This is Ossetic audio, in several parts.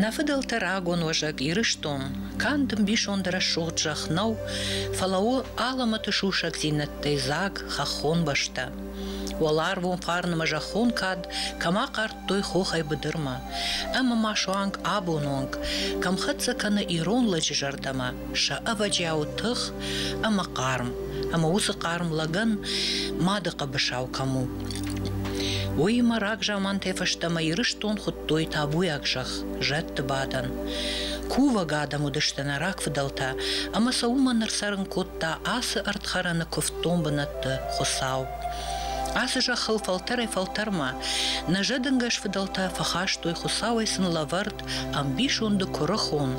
Нӕ фыдӕлтӕ рагон уӕзӕг Ирыстон канд ӕмбисонд рӕсугъд зӕхх нӕу, фӕлӕ у алӕмӕты сусӕгдзинӕдтӕй дзаг хӕххон бӕстӕ. Уӕларвон фарнмӕ зӕххон кад кӕмӕ хъӕр кодтой хохӕй быдырмӕ. Ӕмӕ ма суанг абон онг кӕм хӕццӕ кӕны ирон лӕджы зӕрдӕмӕ сӕ ӕвӕджиау тых ӕмӕ хъарм, ӕмӕ уыцы хъарм лӕгӕн мады хъӕбысау кӕм у. Уыимӕ рагзамантӕй фӕстӕмӕ Ирыстон хуыдтой табуйаг зӕхх, зӕдты бадӕн. Кувӕг адӕм уыдысты нӕ рагфыдӕлтӕ, ӕмӕ сӕ уымӕн ӕрцӕрын кодта ацы ӕрдхӕрӕны куывддон бынӕтты Хуыцау. Ацы зӕххыл фӕлтӕрӕй-фӕлтӕрмӕ нӕзӕдынгӕс фыдӕлтӕ фӕхастой Хуыцауӕй сын лӕвӕрд ӕмбисонды куырыхон,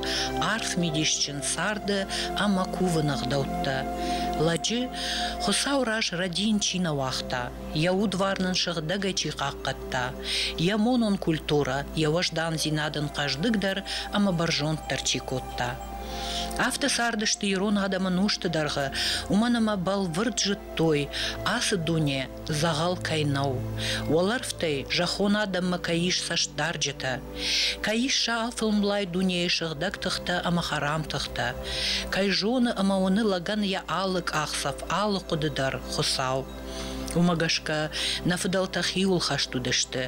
арф мидисджын царды ӕмӕ кувыны ӕгъдӕуттӕ. Лӕджы Хуыцау раз рӕдийын чи нӕ уагъта, йӕ удвар нын сыгъдӕгӕй чи хъахъхъӕдта, йӕ монон культурӕ, йӕ уӕздандзинад ын хъӕздыгдӕр ӕмӕ бӕрзонддӕр чи кодта. Афтӕ цардысты ирон адӕмы нозты дӕргъы, уымӕн ӕмӕ бӕлвырд зыд кодтой, ацы дуне дзӕгъӕл кӕй нӕу, уӕлӕрвтӕй зӕххон адӕммӕ кӕй ис цӕстдарджытӕ, кӕй ис сӕ алфылмлай дунейы сыгъдӕг тыхтӕ ӕмӕ хӕрам тыхтӕ, кӕй зоны ӕмӕ уыны лӕгӕн йӕ алы къахдзӕф, алы хъуыды дӕр, Хуыцау. Уымӕ гӕсгӕ нӕ фыдӕлтӕ хиуылхӕст уыдысты,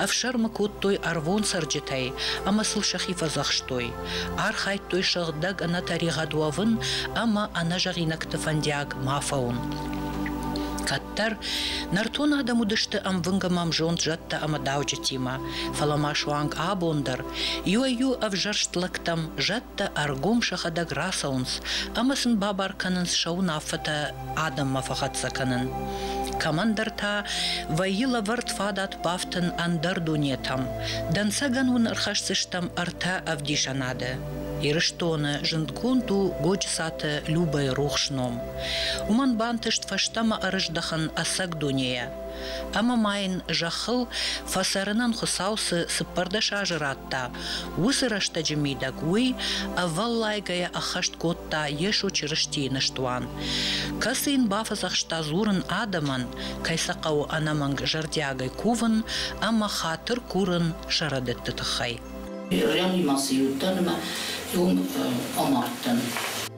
ӕфсӕрмы кодтой ӕрвон цӕрджытӕй ӕмӕ сыл сӕхи фӕдзӕхстой. архайдтой сыгъдӕг ӕнӕтӕригъӕд уӕвын ӕмӕ ӕнӕзӕгъинӕгты фӕндиаг ма фӕуын. Кӕддӕр нӕртон адӕм уыдысты ӕмвынг ӕмӕ ӕмзонд зӕдтӕ ӕмӕ дауджытимӕ, фӕлӕ ма суанг абон дӕр иуӕй-иу ӕвзӕрст лӕгтӕм зӕдтӕ ӕргом сӕхӕдӕг рацӕуынц ӕмӕ сын бабар кӕнынц сӕ уынаффӕтӕ адӕммӕ фӕхӕццӕ кӕнын. Кӕмӕндӕр та вӕййы лӕвӕрд фадат бафтын ӕндӕр дунетӕм. Дӕнцӕгӕн уын ӕрхӕсдзыстӕм ӕртӕ ӕвдисӕнады. Ирыстоны зындгонд у Годжысаты Любӕйы рухс ном. Уымӕн бантыст фӕстӕмӕ ӕрыздӕхын ӕцӕг дунейӕ. Ӕмӕ ма йын зӕххыл фӕцӕрынӕн Хуыцау цы цыппӕрдӕс азы радта, уыцы рӕстӕджы мидӕг уый ӕвӕллайгӕйӕ ӕххӕст кодта Йесо Чырыстийы ныстуан, кӕцы йын бафӕдзӕхста дзурын адӕмӕн, кӕй сӕ хъӕуы ӕнӕмӕнг зӕрдиагӕй кувын ӕмӕ хатыр курын сӕ рӕдыдты тыххӕй. Бирӕгъимӕ цы иуд дӕр ӕмӕ иум амардтӕн.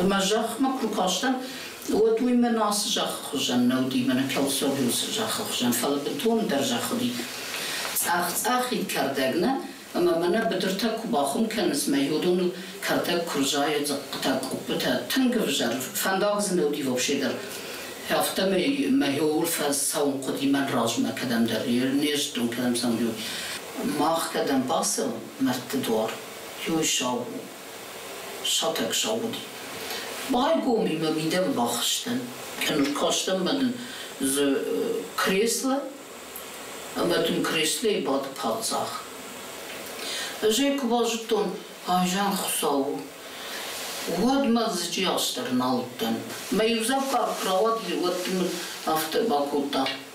Ӕмӕ зӕхмӕ куы кастӕн, уӕд уый мӕн ацы зӕххы хуызӕн нӕ уыди, мӕнӕ Келсоблиусы зӕххы хуызӕн, фӕлӕ бынтондӕр зӕхх уыди. Цъӕх-цъӕхид кӕрдӕг нӕ, ӕмӕ мӕнӕ быдыртӕ куы бахуым кӕныс, мӕ иудоныл кӕрдӕг куы рзайы, дзыхъхъытӕ, къуыппытӕ, тынг ӕвзӕр фӕндаг дзы нӕ уыди вообще дӕр. Афтӕмӕй мӕ иууыл фӕцӕуын хъуыди мӕн размӕ кӕдӕмдӕр, не зыдтон, кӕдӕм цӕуын, иу. Мах кӕдӕм бацӕуӕм, мӕрдты дуар иу сау у, Сатӕг сӕ уыд. Байгомимӕ мидӕг бахызтӕн. Ӕркастӕн мӕнӕ дзы кресло, ӕмӕ дын креслойы бады паддзах. Ӕз ӕй куы базыдтон, айзӕн Хуыцау у. Уӕд мӕ дзыджы астӕр нал уыдтӕн. Мӕ иудзӕвгар куы рауад, уӕд мын афтӕ бакодта,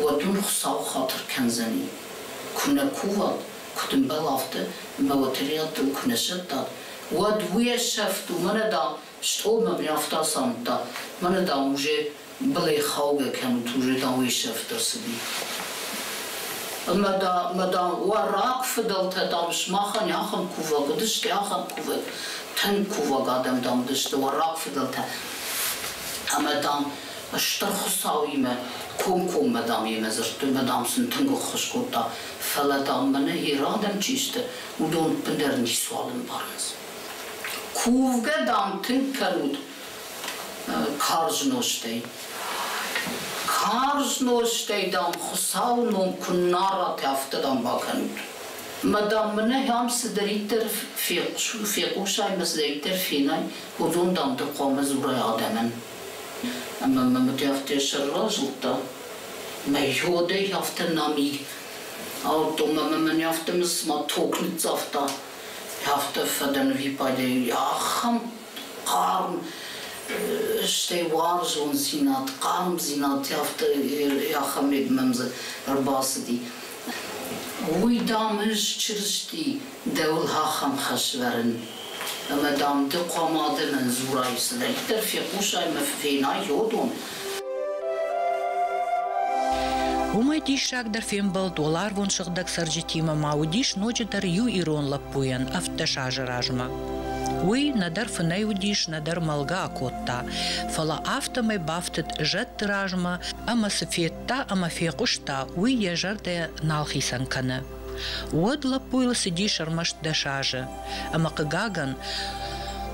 уӕд уын Хуыцау хатыр кӕндзӕни, куы нӕ куват, куыд ӕмбал афтӕ мӕ уӕтӕригъӕдтыл куы нӕ сӕттат, уӕд уе сӕфт у, мӕнӕ, дам, стъолмӕ ме ӕфтар самыдта, мӕнӕ, дам, уже былӕй хаугӕ кӕнут, уже, дам, уе сӕфт ӕрцыди. Ӕмӕ, да, мӕ, дам, уӕ рагфыдӕлтӕ, дам, сымахӕн ахӕм кувӕг уыдысты, ахӕм кувӕг, тынг кувӕг адӕм, дам, уыдысты уӕ рагфыдӕлтӕ. Ӕмӕ, дам, Стыр Хуыцауимӕ комкоммӕ, дам, йемӕ дзырдтой, дам, сын тынг ӕххуыс кодта, фӕлӕ, дам, мӕнӕ йӕ адӕм чи сты, уыдон ӕппындӕр ницуал ӕмбарынц. Кувгӕ, дам, тынг кӕнут карз нозтӕй. Карз нозтӕй, дам, Хуыцауы ном куыннӕ арат, афтӕ, дам, бакӕнут. Мӕ, дам, мӕнӕ ам цыдӕриддӕр фехъусай ӕмӕ цыдӕриддӕр фенай, уыдон, дам, дӕр хъуамӕ дзурай адӕмӕн. Ӕмӕ мӕм Рӕфтӕ сӕрра зылдта. Мӕ уодӕй афтӕ нӕм и. Аудтон ӕмӕ мӕн афтӕ мысмӕ ток ныццавта. Афтӕ фӕдӕн випадӕй ахӕм хъарм, стӕй уарзондзинад, хъармдзинад афтӕ Яхамед мӕм дзы ӕрбацыди. Уый, дам, ӕз Чырысти Дӕуыл ахӕм хӕс вӕрын, ӕмӕ, дам, ды хъуамӕ адӕмӕн дзурай, цыдӕриддӕр фехъусай мӕ фена йодон. Уымӕй диссагдӕр фембӕлд уӕларвон сыгъдӕг цӕрджытимӕ ма уыдис ноджыдӕр иу ирон лӕппуйӕн ӕвддӕс азы размӕ. Уый нӕдӕр фынӕй уыдис, нӕдӕр мӕлгӕ акодта, фӕлӕ афтӕмӕй бафтыд зӕдты размӕ ӕмӕ цы федта ӕмӕ фехъуыста, уый йӕ зӕрдӕ нал хицӕн кӕны. Уӕд лӕппуйыл цыдис ӕрмӕст дӕс азы. Ӕмӕ, хъыгагӕн,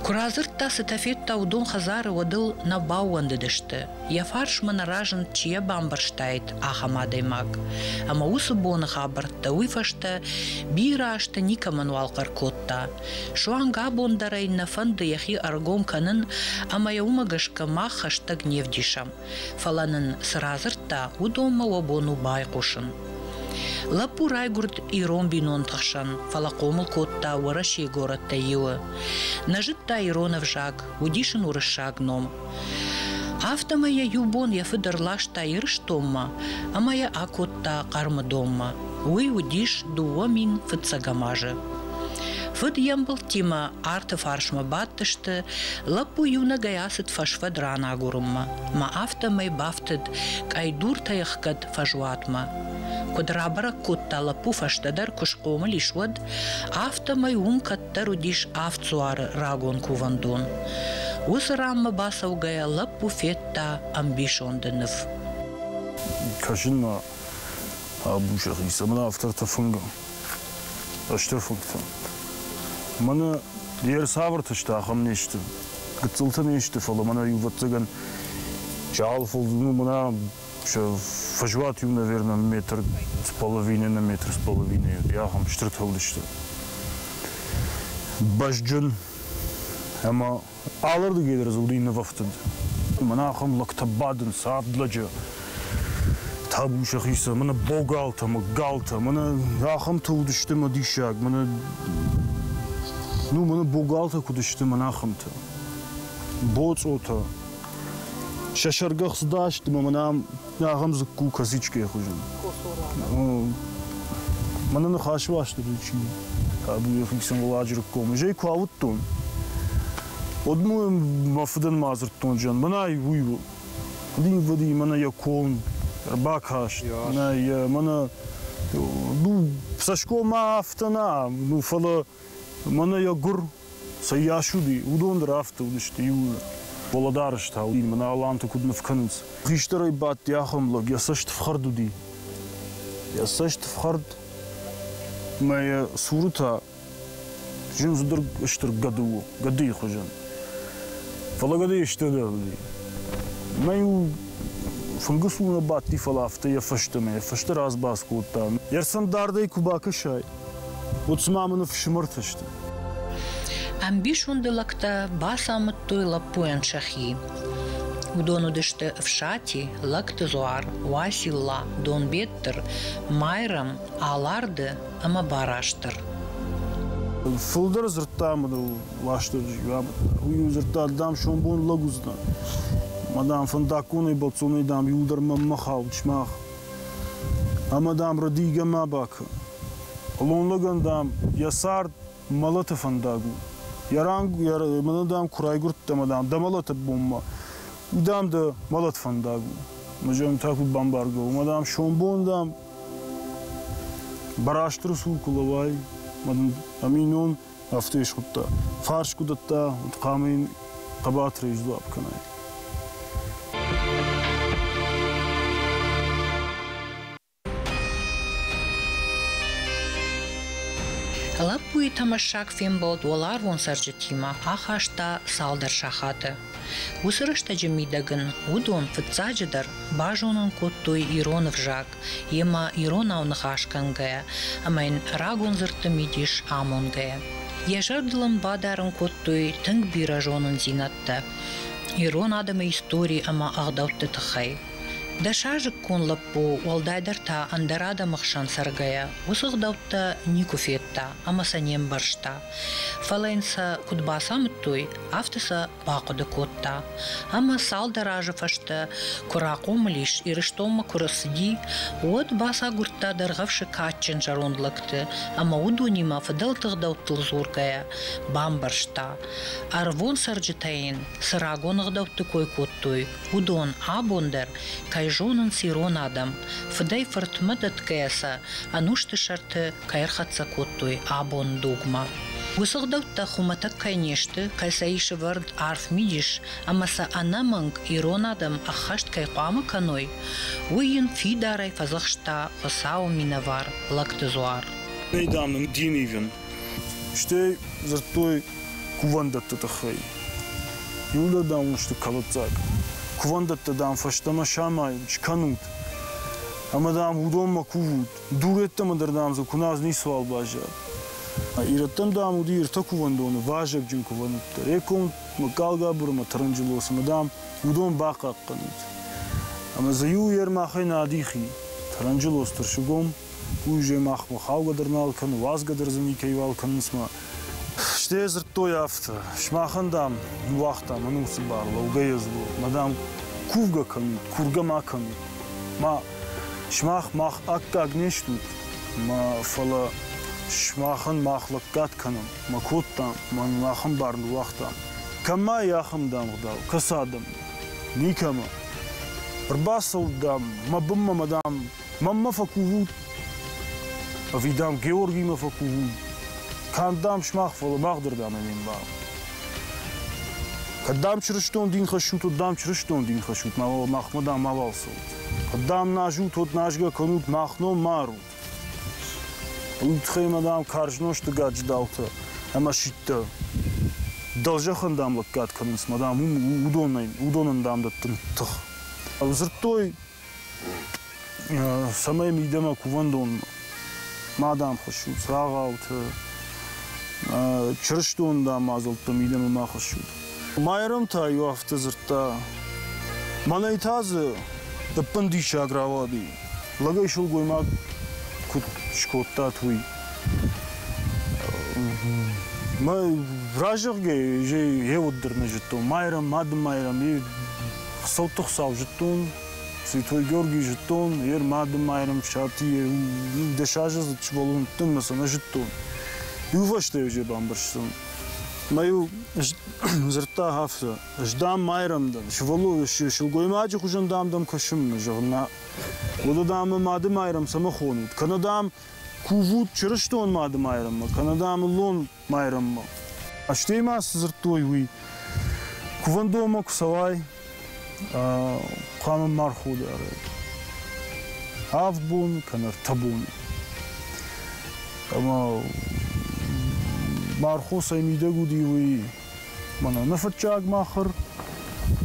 куы радзырдта, цытӕ федта, уыдон хӕдзары уӕдыл нӕ баууӕндыдысты, йӕ фарсмӕ нӕ разынд чи йӕ бамбӕрстаид, ахӕм адӕймаг. Ӕмӕ уыцы боны хабӕрттӕ уый фӕстӕ бирӕ азты никӕмӕн уал хъӕр кодта. Суанг абон дӕр ӕй нӕ фӕнды йӕхи ӕргом кӕнын, ӕмӕ йӕ уымӕ гӕсгӕ мах хӕстӕг не вдисӕм. Фӕлӕ нын цы радзырдта, уыдонмӕ уӕ бон у байхъусын. Лӕппу райгуырд ирон бинонты хсӕн, фӕлӕ хъомыл кодта Уӕрӕсейы горӕттӕй иуы. Нӕ зыдта ирон ӕвзаг, уыдис ын уырыссаг ном. Афтӕмӕй йӕ иу бон йӕ фыд ӕрласта Ирыстонмӕ ӕмӕ йӕ акодта Хъӕрмыдонмӕ. Уый уыдис дыууӕ мин фыццӕгӕм азы. Фыд йе мбылдтимӕ арты фарсмӕ бадтысты, лӕппу иунӕгӕй ацыд фӕсфӕд ран агурынмӕ, мӕ афтӕмӕй бафтыд къӕйдуртӕ ӕхгӕд фӕзуатмӕ. Куыд рабӕрӕг кодта лӕппу фӕстӕдӕр, куы схъомыл ис, уӕд, афтӕмӕй уым кӕддӕр уыдис авд дзуары рагон кувӕндон. Уыцы ранмӕ бацӕугӕйӕ лӕппу федта ӕмбисонды ныв. Кӕсын ма абу, зӕгъис, ӕмӕ афтӕ ӕртӕфынгӕ. Стыр фынгтӕ. Мӕнӕ де рцавӕрты сты, ахӕм не сты. Гыццылты не сты, фӕлӕ мӕнӕ иувӕццӕгӕн чъал фылд, ну, мӕнӕ фӕзуат иу, наверное, метр с половиной на метр с половиной уыд. Ахӕм стыр тыгъд сты. Бӕзджын ӕмӕ Алырдыгӕй дӕр дзы уыди нывӕфтыд. Мӕнӕ ахӕм лӕгтӕ бадынц авд лӕджы. Табу сӕхицӕн, мӕнӕ богалтӕ, мӕ галтӕ, мӕнӕ ахӕмтӕ уыдысты мӕ диссаг, мӕнӕ ну мӕнӕ богалтӕ куыд сты мӕнӕ ахӕмтӕ. Боцъотӕ. Сӕ сӕргӕхц дӕсты мӕ мӕнӕ Ахӕм дзыкку косичкӕйы хуызӕн. Мӕнӕ ныхасы бӕсты причина. Табу йӕхи Сӕнгуладжыры ком. Изӕй куы ауыдтон, уӕд мыл мӕ фыдӕн ма дзырдтон, зӕн, мӕнӕй уый у. Уыдин-быди мӕнӕ йӕ ком ӕрбакаст, мӕнӕ йӕ, мӕнӕ, ну, цӕсгом афтӕ нӕ, ну, фӕлӕ Мӕнӕ йӕ гуыр цы йас уыди, уыдон дӕр афтӕ уыдысты иууылдӕр. Уӕлӕдарӕстау уыди, мӕнӕ аланты куыд ныв кӕнынц. Хистӕрӕй бадти ахӕм лӕг, йӕ цӕст фхӕрд уыди. Йӕ цӕст фхӕрд мӕ йӕ цуры та зындзыдӕр стыр гӕды у, гӕдыйы хуызӕн. Фӕлӕ гӕдыйы стырдӕр уыди. Мӕ-иу фынгы цур нӕ бадти, фӕлӕ афтӕ йӕ фӕстӕмӕ, йӕ фӕстӕ радзбац кодта. Йе рцӕн дардӕй куы бакӕсай, Уыцы-ма мын фсымӕртӕ сты. Ӕмбисонды лӕгтӕ бацамыдтой лӕппуйӕн сӕхи. Уыдон уыдысты Фсати, Лӕгты Зуар, Уасилла, Донбеттыр, Майрӕм, Аларды ӕмӕ Барастыр. Фылдӕр дзырдта мыдыл Уастырджи. Уый-иу дзырдта, дам, сомбон лӕг уыдзынӕн. Ма, дам, фӕндаггонӕй бацонӕй, дам, иуылдӕр мӕнмӕ хауд, сымах. Ӕмӕ, дам, рдигӕ ма бакӕ. Хъулон лӕгӕн, дам, йӕ цард мӕлӕты фӕндаг у. Йӕ ранг, йӕ мӕнӕ, дам, куы райгуырдтӕ, ӕмӕ, дам, дӕ мӕлӕты бонмӕ, уый, дам, дӕ мӕлӕт фӕндаг у. Ӕмӕ зӕгъӕм, та куыд бамбаргӕ у? Ӕмӕ, дам, сомбон, дам, Барастыры цур куы лӕууай, ӕмӕ дын ӕминон афтӕ исхуыдта. Фарс куы дӕтта, уӕд хъуамӕ йын хъӕбатырӕй сдуап кӕнай. Лӕппуйы тӕмӕссаг фембӕлд уӕларвон цӕрджытимӕ ахаста цалдӕр сахаты. Уыцы рӕстӕджы мидӕг ын уыдон, фыццаджыдӕр, базонын кодтой ирон ӕвзаг, Йемӕ, иронау ныхасгӕнгӕйӕ ӕмӕ йын рагон дзырдты мидис амонгӕйӕ. Йӕ зӕрдыл ын бадарын кодтой тынг бирӕ зонындзинӕдтӕ ирон адӕмы истори ӕмӕ ӕгъдӕутты тыххӕй. Дӕ сазыкгон лӕппу, уӕлдайдӕр та ӕндӕр адӕмы хсӕн цӕргӕйӕ, уыцы ӕгъдӕуттӕ никуы федта ӕмӕ сӕ не мбӕрста. Фӕлӕ йын сӕ куыд бацамыдтой, афтӕ сӕ бахъуыды кодта, ӕмӕ цалдӕр азы фӕстӕ куы рахъомыл ис Ирыстонмӕ куы рцыди, уӕд бацагуырдта дӕргъӕвсы кадджын зӕронд лӕгты ӕмӕ уыдонимӕ фыдӕлты гъдӕуттыл дзургӕйӕ бамбӕрста, ӕрвон цӕрджытӕ йын цы рагон ӕгъдӕутты кой кодтой, уыдон абон дӕр кӕй зонынц ирон адӕм, фыдӕй-фыртмӕ дӕтгӕйӕ сӕ ӕнусты сӕрты кӕй ӕрхӕццӕ кодтой абон дугмӕ. Уыцы гъдӕуттӕ хуымӕтӕг кӕй не сты, кӕцӕй сывӕрд арф мидис ӕмӕ сӕ ӕнӕмӕнг ирон адӕм ӕххӕст кӕй хъуамӕ кӕной, уый йын фидарӕй фӕдзӕхста Хуыцауы минӕвар Лӕгты Зуар. Нӕй, дам, дин ивын. Стӕй дзырдтой кувӕндӕтты тыххӕй. Иулӕ, дам, уын сты кӕлыддзаг. Кувӕндӕттӕ, дам, фӕстӕмӕ самайын скӕнут. Ӕмӕ, дам, уыдонмӕ кувут. Дурӕттӕм ӕндӕрдӕм дзы куыназ ницуал баззад. Ирӕттӕм, дам, уыди иртӕ кувӕндоны вазыгджын кувӕндӕттӕ. Реком, Галгабуры ӕмӕ Таранджелосы, дам, уыдон бахъахъхъӕнут. Ӕмӕ дзы иу йӕ рмахӕй нӕ адихи. Таранджелос тырсыгом, уый уызӕй махмӕ хаугӕ дӕр нал кӕны, уадзгӕ дӕр дзы никӕйуал кӕнынц мӕ Стӕй дзырдтой афтӕ: сымахӕн, дам, ныууагътам ӕнусы бар, лӕугӕ ездур, ма, дам, кувгӕ кӕнут, кургӕ ма кӕнут. Ма, сымах мах аккаг не стут, ма, фӕлӕ сымахӕн мах лӕггад кӕнӕм, ма кодтам, ма нын ахӕм бар ныууагътам. Кӕм ма и ахӕм дамгъдау, кӕцы адӕм? Никӕмӕ. Ӕрбацӕут, дам, мӕ бынмӕ, ма, дам, Маммӕ фӕкувут, ӕви, дам, Георгимӕ фӕкувут, канд, дам, сымах, фӕлӕ махдырдӕм ӕм ӕмбарут. Кӕд, дам, чырыстон дин хӕссут, уӕд, дам, чырыстон дин хӕссут, мауал махмӕ, дам, мауал цӕут. Кӕд, дам, назут, уӕд назгӕ кӕнут, мах ном марут. Уый тыххӕй мӕ, дам, карз нозты гаджидаутӕ ӕмӕ ситтӕ дӕлзӕхӕн, дам, лӕггад кӕнынц, мӕ, дам, уым уыдонӕй, уыдонӕн, дам, дӕттын тых. Дзырдтой, цӕмӕй мидӕмӕ кувӕндон ма дӕм хуыссут, цагъауты, чырыстон мадзӕлттӕ мидӕмӕ ма хуыссут. Майрӕм та иу афтӕ дзырдта, мӕнӕй та дзы ӕппын диссаг рауади. Лӕгӕй сылгоймаг куыд скодтат уый? Мӕ разӕгъгӕ, ей, еуд дӕр нӕ зыдтон. Майрӕм, мады майрӕм, е Хуыцӕутты Хуыцау зыдтон, Святой Георгий зыдтон, йе рмады майрӕмфсати йе дӕс азы сывӕллон уыдтӕн мӕ сӕ нӕ зыдтон. Иувӕстӕ ӕй бамбӕрстон. Мӕ йыл дзырдта афтӕ, ӕз дам майрӕм дӕн, сывӕллон сылгоймаджы хуызӕн дам дӕм кӕсын, зӕгъынмӕ. Уӕдӕ дам мӕ мады майрӕм цӕмӕ хонут? Кӕнӕ дам кувут чырыстон мады майрӕммӕ, кӕнӕ дам ыллон Майрӕммӕ. Стӕй ма цы дзырдтой, уый кувӕндонмӕ куы цӕуай, хъуамӕ ма рходарай. Авд боны кӕнӕ ӕртӕ боны. Ӕмӕ мархосӕй мидӕг уыди уый мӕнӕ нӕфыццаг махыр,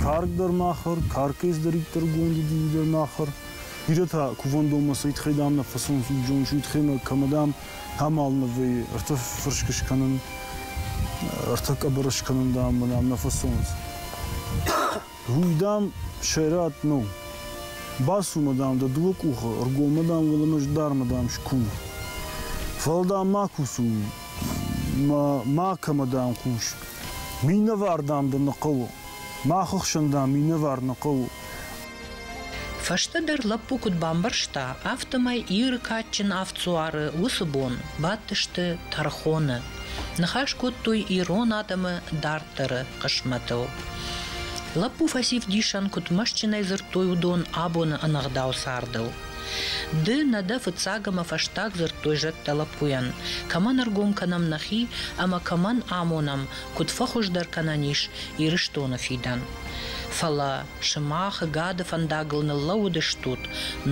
карк дӕр махыр, каркӕс дӕр иттӕргонд уыди уый дӕр махыр. Бирӕ та кувӕндонмӕ сӕ итхӕй дам нӕ фӕцух, зоныс, итхӕмӕ кӕмӕ дам амал нывы рты фырсг скӕнын, рты къӕбыр скӕнын, дам, мынӕм нӕ фӕцуынынц. Уый, дам, сӕрат нӕу. Бацу-ма, дам, дӕ дыууӕ къухы, ргоммӕ, дам, уылымӕз дармӕ, дам, ску. Фӕлӕ, дам, ма кусу, ма, ма кӕмӕ, дам, хъус. Минӕвар, дам, дӕ нӕ хъӕуы. Мах ӕхсӕн, дам, минӕвар нӕ хъӕуы. Фӕстӕдӕр лӕппу куыд бамбӕрста, афтӕмӕй Иры кадджын ӕфцуары уыцы бон бадтысты тӕрхоны. Ныхас кодтой ирон адӕмы дарддӕры хъысмӕтыл. Лӕппу фӕсив дисӕн куыд мӕстджынӕй дзырдтой уыдон абоны ӕнӕгъдау цардыл. Ды нӕ дӕ фыццаг ӕмӕ фӕстаг дзырдтой зӕдтӕ лӕппуйӕн, кӕмӕн ӕргом кӕнӕм нӕхи ӕмӕ кӕмӕн амонӕм, куыд фӕхуыздӕр кӕнӕн ис Ирыстоны фидӕн. Фӕлӕ Сымахы гӕды фӕндагыл ныллӕууыдыстут,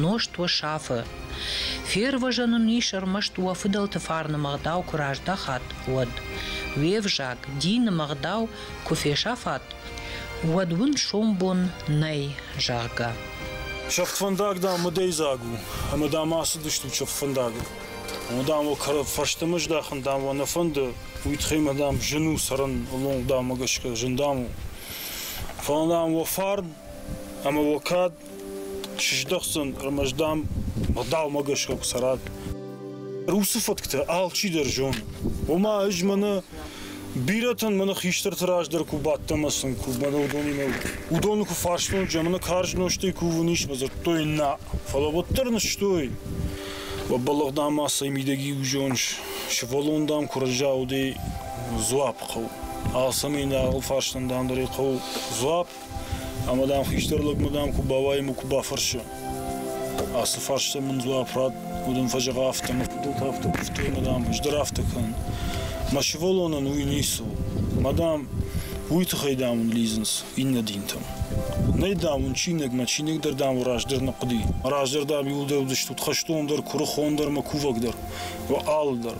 нозт уӕ сафы. Фервӕзӕн уын ис ӕрмӕст уӕ фыдӕлты фарны мӕгъдау куы раздӕхат, уӕд. Уе взаг, дины мӕгъдау куы фесӕфат, уӕд уын сомбон нӕй, зӕгъгӕ. Сӕфтфӕндаг, дам, мыдӕйдзаг у, ӕмӕ дам ацыдыстут сӕфтфӕндагыл. Омӕ, дам, уӕ кӕрӕ фӕстӕмӕ здахын, дам, уӕ нӕ фӕнды, уый тыххӕй мӕ, дам, зын у цӕрын, лонг, дам, мӕ гӕсгӕ зын, дам, у. Фӕлӕ нӕм уӕ фарн ӕмӕ уӕ кад чи здӕхдзӕн, ӕрмӕст, дам, ӕгъдаумӕ гӕсгӕ куы цӕрат. Русы фӕтктӕ алчидӕр зоны. Ома ӕз мӕнӕ бирӕтӕн мӕнӕ хистӕрты раз дӕр куы бадтӕн мӕ сын, куы мӕнӕ уыдонимӕ, уыдоны куы фарстон, джы мӕнӕ карз нозтӕй кувын ис, мӕ дзырдтой нӕ. Фӕлӕ уӕддӕр нызтой. Уӕ бӕллӕх, дам, ма сӕ мидӕг иу зоныс, сывӕллон, дам, куы раззаудӕй, дзуапп хъӕуы. Ацы минӕварыл фарстан дандӕрӕй хъӕуы дзуапп, ӕмӕ дам хистӕр лӕгмӕ дам куы бауайым, куы бафӕрсы. Ацы фарста мын дзуапп рад уыд, ын фӕзӕгъа афтӕ, мӕ фыдӕлты афтӕ куывтой, ма дам ӕз дӕр афтӕ кӕн. Мӕ сывӕллонӕн уый ницы у. Ма дам уый тыххӕй дам уын лидзынц иннӕ динтӕм. Нӕй дам уын чиныг, мӕ чиныг дӕр дам уӕ раздӕр нӕ хъуыди. Раздӕр дам иуылдӕр уыдыстут хӕстон дӕр, куырыхон дӕр мӕ кувӕг дӕр. Уӕ алыдӕр.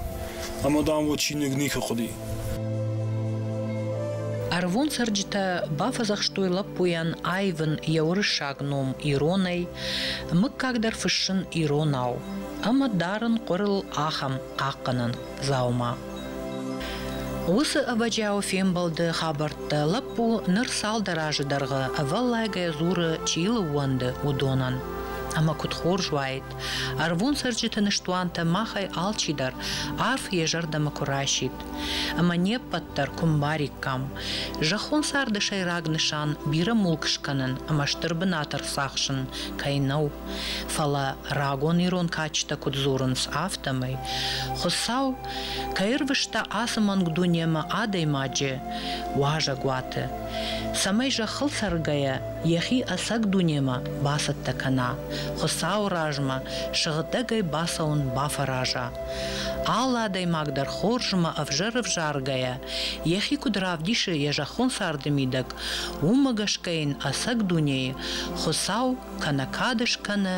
Ӕмӕ, дам, уӕ чиныг никуы хъуыди. Ӕрыгон цӕрджытӕ бафӕдзӕхстой лӕппуйӕн аивын йӕ уырыссаг ном иронӕй, мыггаг дӕр фыссын иронау ӕмӕ дарын хъуырыл ахӕм хъахъхъӕнӕн дзаума. Уыцы ӕвӕджиауы фембӕлды хабӕрттӕ лӕппу ныр цалдӕр азы дӕргъы ӕвӕллайгӕ дзуры чи лыууӕнды, уыдонӕн. Ӕмӕ куыд хорз уаид, Ӕрвон цӕрджыты ныстуантӕ махӕй алчидӕр арф йӕ зӕрдӕмӕ куы расидт ӕмӕ не ппӕт дӕр куы мбариккам. Зӕххон царды сӕйраг нысан бирӕ мулк скӕнын ӕмӕ стыр бынат ӕрцахсын кӕй нӕу. Фӕлӕ рагон ирон кадджытӕ куыд дзурынц, афтӕмӕй Хуыцау кӕй ӕрвыста ацы мӕнг дунемӕ адӕймаджы уазӕгуаты, цӕмӕй зӕххыл цӕргӕйӕ йӕхи ӕцӕг дунемӕ бацӕттӕ кӕна, Хуыцауы размӕ сыгъдӕгӕй бацӕуын бафӕраза. Алы адӕймаг дӕр хорзмӕ ӕвзӕр ӕвзаргӕйӕ, йӕхи куыд равдисы йӕ зӕххон царды мидӕг, уымӕ гӕсгӕ йын ӕцӕг дунейы Хуыцау кӕнӕ кад скӕны,